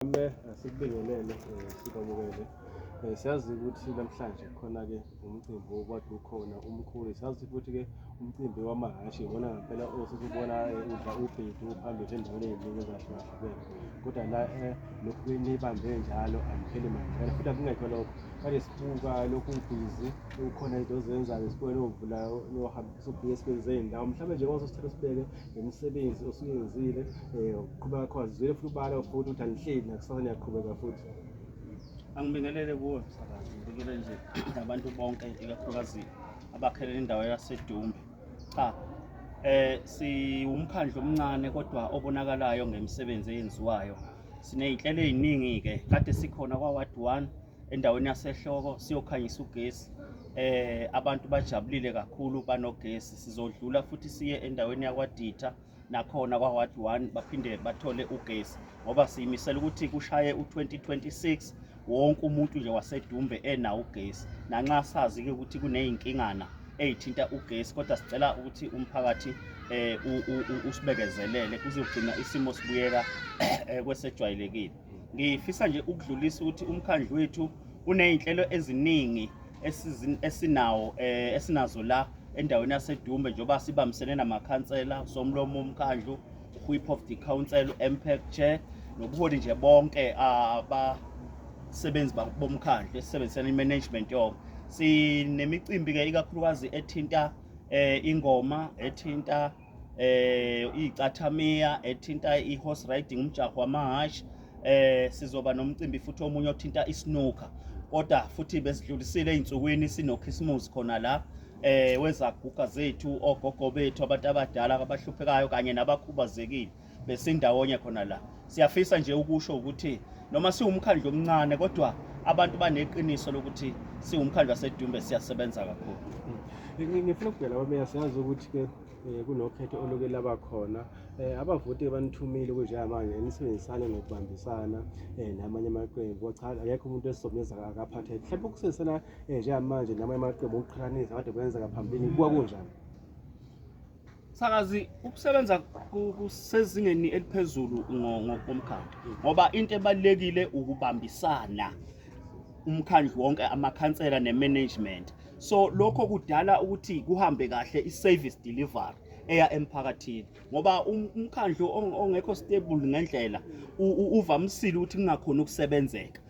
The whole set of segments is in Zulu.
Mame asikubingelele eh, sikwamukele Eh, siyazi ukuthi namhlanje khona-ke umcimbi okwathi ukhona umkhulu siyazi futhi-ke umcimbi wamahhashi iwona ngampela osesibona eh, udla ubhedu phambili endaweni eziningi ezahlukahlukene kodwa la eh, lokhu nibambe njalo angipheli manjalo futhi akungekho lokho kade sibuka lokhu ubhizi kukhona into ozenzayo sibone ovulayo nohambisa ubhizi esibenzey'ndawo mhlawumbe nje kwaso sithatha sibeke ngemisebenzi osuyenzile um uqhubeka khona zizwele futhi ubala futhi ukuthi anihleli nakusasa niyaqhubeka futhi angibingelele kuwe msakazi ngibikele nje nabantu bonke ikakhulukazi abakhele indawo yasedumbe cha eh siwumkhandlu omncane kodwa obonakalayo ngemisebenzi eyenziwayo sinezinhlelo eziningi ke kade sikhona kwa ward 1 endaweni yasehloko siyokhanyisa ugesi eh abantu bajabulile kakhulu banogesi sizodlula futhi siye endaweni yakwaditha nakhona kwa-ward one baphinde bathole ugesi ngoba siyimisela ukuthi kushaye u-2026 wonke umuntu nje wasedumbe enawo ugesi nanxa sazi-ke ukuthi kuney'nkingana eyithinta ugesi kodwa sicela ukuthi umphakathi eh usibekezelele kuzogcina isimo sibuyeka eh, kwesejwayelekile Ngifisa nje ukudlulisa ukuthi umkhandlu wethu unezinhlelo eziningi esinawo eh, esinazo la endaweni yaseDumbe njengoba sibambisene namakhansela somlomo omkhandlu whip of the council MPEC chair nobuholi nje bonke abasebenzi bomkhandlu esisebenzisana imanagement yonke sinemicimbi ke ikakhulukazi ethinta eh, ingoma ethinta eh icathamiya ethinta ihorse riding umjaho wamahhashi eh sizoba nomcimbi futhi omunye othinta isnooker kodwa futhi besidlulisile ezinsukwini sinokhisimusi khona la eh wezaguga zethu ogogo bethu abantu abadala abahluphekayo kanye nabakhubazekile besindawonye khona la siyafisa nje ukusho ukuthi noma siwumkhandlu omncane kodwa abantu baneqiniso lokuthi siwumkhandlu wasedumbe siyasebenza kakhulu hmm. ngifuna ukubhela bameya siyazi ukuthi-ke um kunokhetho oluke laba khona um abavoti banithumile kunjengamanje nisebenzisane nokubambisana um namanye amaqembu cha akekho umuntu esizomeza akaphatheke mhlawumbe ukusebenzisana um njengamanje namanye amaqembu okuqhathanisa kade kwenzeka phambilini kuba kunjani Sakazi ukusebenza kusezingeni eliphezulu ngokomkhandlu ngoba into ebalekile ukubambisana umkhandlu wonke amakhansela nemanagement so lokho kudala ukuthi kuhambe kahle iservice delivery eya emphakathini ngoba um-, umkhandlu ongekho stable ngendlela uvamisile ukuthi kungakhona ukusebenzeka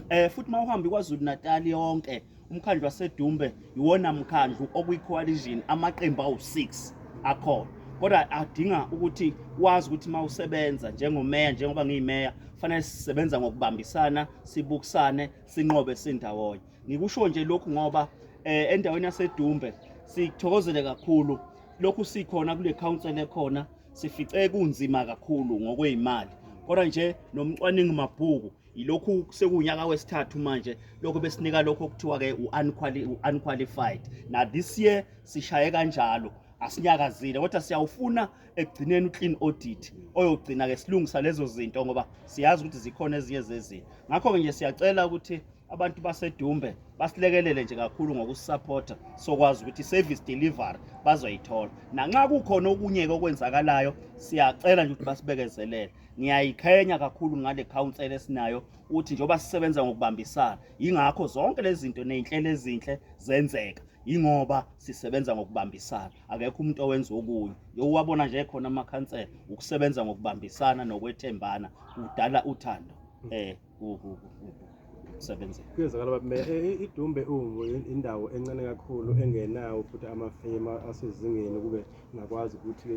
eh futhi mawuhambi kwaZulu Natal yonke umkhandlu waseDumbe iwona mkhandlu okuyicoalition amaqembu awu6 akhona kodwa adinga ukuthi wazi ukuthi mawusebenza njengomeya njengoba ngiyimeya fanele sisebenza ngokubambisana sibukisane sinqobe sindawonye ngikusho nje lokhu ngoba eh endaweni yaseDumbe sithokozele kakhulu lokhu sikhona kule council ekhona sifice kunzima kakhulu ngokwezimali kodwa nje nomcwaningi mabhuku Yilokhu sekuwunyaka wesithathu manje lokho besinika lokho okuthiwa ke u-unqualified. Na this year sishaye kanjalo asinyakazile kodwa siyawufuna ekugcineni uclean audit oyogcina ke silungisa lezo zinto ngoba siyazi ukuthi zikhona ezinye zezinto. Ngakho ke nje siyacela ukuthi abantu basedumbe basilekelele nje kakhulu ngokusisapotha sokwazi ukuthi service delivery bazoyithola nanxa kukhona okunye-ke okwenzakalayo siyacela nje ukuthi basibekezelele Ngiyayiqhenya kakhulu ngale council esinayo uthi njengoba sisebenza ngokubambisana yingakho zonke lezi zinto nezinhlelo ezinhle zenzeka yingoba sisebenza ngokubambisana akekho umuntu owenza okunye yowabona nje khona amakhansela ukusebenza ngokubambisana nokwethembana kudala uthando eh ukusebenzela kuyezakala baba meya e, e, idumbe ungu indawo encane kakhulu engenawo futhi amafema asezingeni kube ngakwazi ukuthi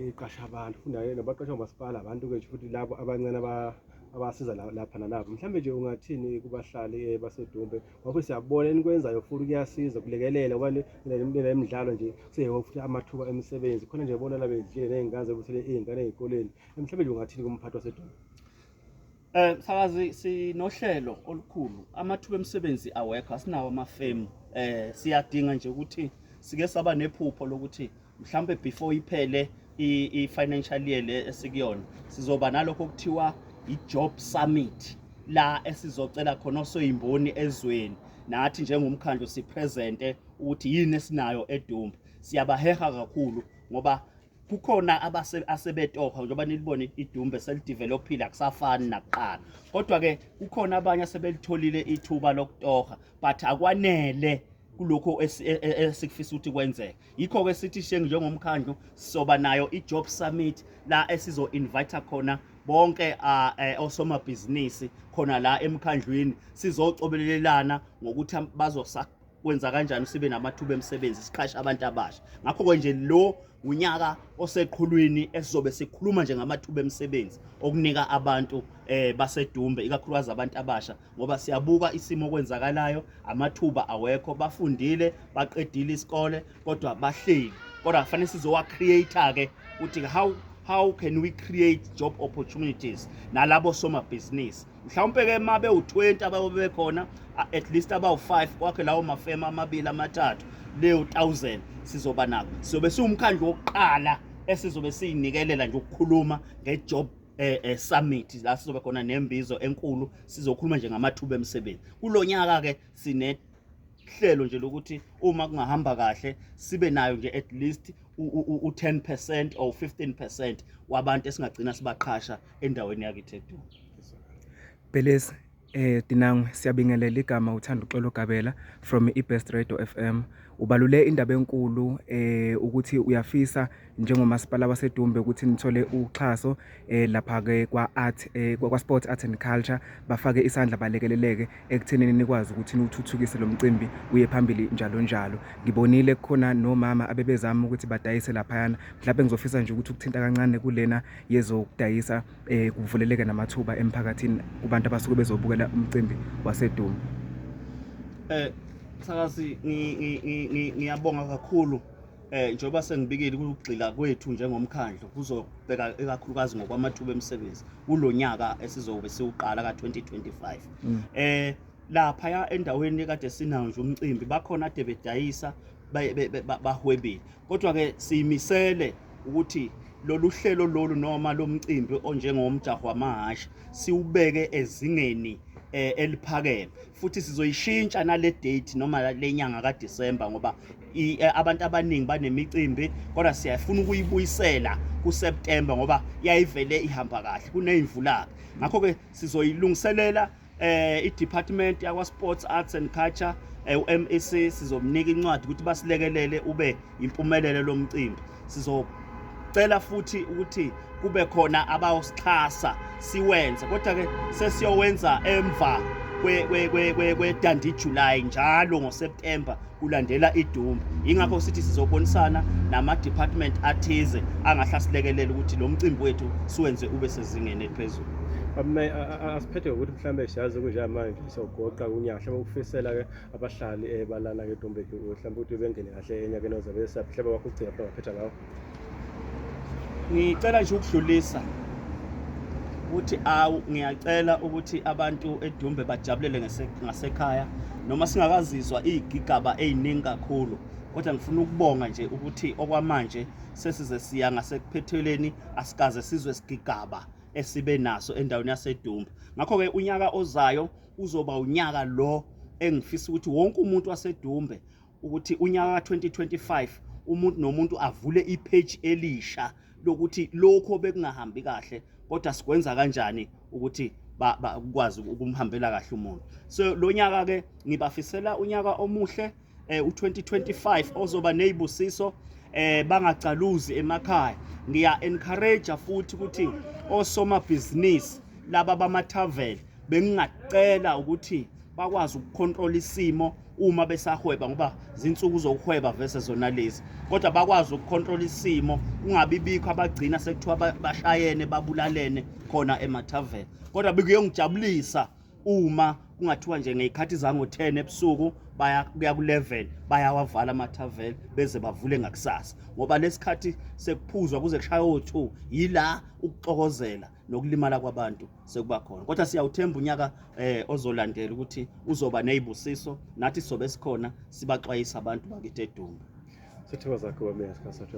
iqasha abantu funda nabaqasha ngomasipala abantu ke futhi labo abancane abasiza lapha nalapho mhlawumbe nje ungathini kubahlali eh, basedumbe ngoba siyabona enikwenzayo futhi kuyasiza kulekelela ngoba nile midlalo nje seyebo futhi amathuba emisebenzi khona nje bona labedlile ney'ngane zebusele iy'ngane ey'koleni mhlawumbe nje ungathini kumphathi wasedumbe Eh msakazi sinohlelo olukhulu amathuba emisebenzi awekho asinawo amafemu eh siyadinga nje ukuthi sike saba nephupho lokuthi mhlambe before iphele i-financial year le esikuyona sizoba nalokho okuthiwa i-job summit la esizocela khona osoyimboni ezweni nathi njengomkhandlu sipresente ukuthi yini esinayo edumba siyabaheha kakhulu ngoba kukhona asebetohwa njengoba nilibona idumbe selidevelophile akusafani nakuqala kodwa-ke kukhona abanye asebelitholile ithuba lokutoha but akwanele kulokho e, e, e, esikufisa ukuthi kwenzeke yikho-ke sithi shengi njengomkhandlu sizoba nayo i-job summit la esizo-invitha khona bonke eh, osomabhizinisi khona la emkhandlwini sizocobelelelana ngokuthi bazosa kwenza kanjani sibe namathuba emisebenzi siqhashe abantu abasha ngakho ke nje lo unyaka oseqhulwini esizobe sikhuluma nje ngamathuba emisebenzi okunika abantu eh basedumbe ikakhulukazi abantu abasha ngoba siyabuka isimo okwenzakalayo amathuba awekho bafundile baqedile isikole kodwa bahleli kodwa kufanele sizowa create ke ukuthi how how can we create job opportunities nalabo somabhizinisi mhlawumpe ke mabe u20 abayobe bekhona at least abawu5 kwakhe lawo mafema amabili amathathu leyo 1000 sizoba nako sizobe siwumkhandlu wokuqala esizobe sinikelela nje ukukhuluma ngejob eh, eh summit la sizobe khona nembizo enkulu sizokhuluma nje ngamathuba emsebenzi kulonyaka ke sine hlelo nje lokuthi uma kungahamba kahle sibe nayo nje at least u-10% or 15% wabantu esingagcina sibaqhasha endaweni yakithi eDuma Bheleezi eh Dinangwe siyabingelela igama uthanda uxolo Gabela from iBest Radio FM ubalule indaba enkulu eh ukuthi uyafisa njengomasipala waseDumbe ukuthi nithole uxhaso eh lapha ke kwa art eh kwa sport art and culture bafake isandla balekeleleke ekuthenini nikwazi ukuthi niwuthuthukise lo mcimbi uye phambili njalo njalo ngibonile kukhona nomama abebezama ukuthi badayise lapha yana mhlawumbe ngizofisa nje ukuthi ukuthinta kancane kulena yezokudayisa eh kuvuleleke namathuba emphakathini kubantu abasuke bezobukela umcimbi waseDuma eh sakasi ngiyabonga kakhulu eh njengoba sengibikile ukugxila kwethu njengomkhandlu kuzobheka ikakhulukazi ngokwamathuba emisebenzi kulonyaka esizobe siwuqala ka2025 mm. eh lapha ya endaweni ekade sinawo nje umcimbi bakhona ade bedayisa bahwebile kodwa-ke siyimisele ukuthi lolu hlelo lolu noma lo mcimbi onjengomjaho wamahhashi siwubeke ezingeni eh, eliphakeme futhi sizoyishintsha nale date noma le nyanga kaDisemba ngoba eh, abantu abaningi banemicimbi kodwa siyafuna ukuyibuyisela kuSeptember ngoba yayivele ihamba kahle kuneyimvulaka ngakho-ke sizoyilungiselela eh i-department yakwa-sports arts and culture eh, u-mac sizomnika incwadi ukuthi basilekelele ube impumelelo lo mcimbi sizocela futhi ukuthi kube khona abawusixhasa siwenze kodwa-ke sesiyowenza emva kwe-dandi july njalo ngoseptemba kulandela idumbu yingakho sithi sizobonisana nama-department athize angahlasilekelela ukuthi lo mcimbi wethu siwenze ube sezingeni eliphezulu asiphethe ngokuthi mhlawumbe siyazi kunjamanje sogoqa kunyahle ukufisela-ke abahlali eh, balana-ke edombeni mhlawumbe ukuthi bengene kahle enyakeni ozabe esaphi mhlawumbe wakho ugcina mhlawumbe aphetha ngawo ngicela nje ukudlulisa ukuthi awu ngiyacela ukuthi abantu edumbe bajabulele ngasekhaya noma singakazizwa iy'gigaba ey'ningi kakhulu kodwa ngifuna ukubonga nje ukuthi okwamanje sesize siya ngasekuphetheleni asikaze sizwe sigigaba esibe naso endaweni yasedumba ngakho-ke unyaka ozayo uzoba unyaka lo engifisa ukuthi wonke umuntu wasedumbe ukuthi unyaka ka-2025 umuntu nomuntu avule ipage elisha lokuthi lokho bekungahambi kahle kodwa sikwenza kanjani ukuthi bakwazi ukumhambela kahle umuntu so lo nyaka ke ngibafisela unyaka omuhle eh, u-2025 ozoba nezibusiso eh bangacaluzi emakhaya ngiya encourage futhi ukuthi osomabhizinisi laba bama-travel bengingacela ukuthi bakwazi ukukhontrola isimo uma besahweba ngoba zinsuku zokuhweba vese zona lezi kodwa bakwazi ukucontrol isimo kungabi bikho abagcina sekuthiwa bashayene babulalene khona emathaveni kodwa bekuyongijabulisa uma kungathiwa nje ngeyikhathi zango 10 ebusuku baya kuya ku 11 bayawavala amathaveni beze bavule ngakusasa ngoba lesikhathi sekuphuzwa kuze kushaya o2 yila ukuxokozela nokulimala kwabantu sekuba khona kodwa siyawuthemba unyaka eh ozolandela ukuthi uzoba nezibusiso nathi sobe sikhona sibaxwayisa abantu bakithi edumba sithokoza kuwe meya sikhasathwa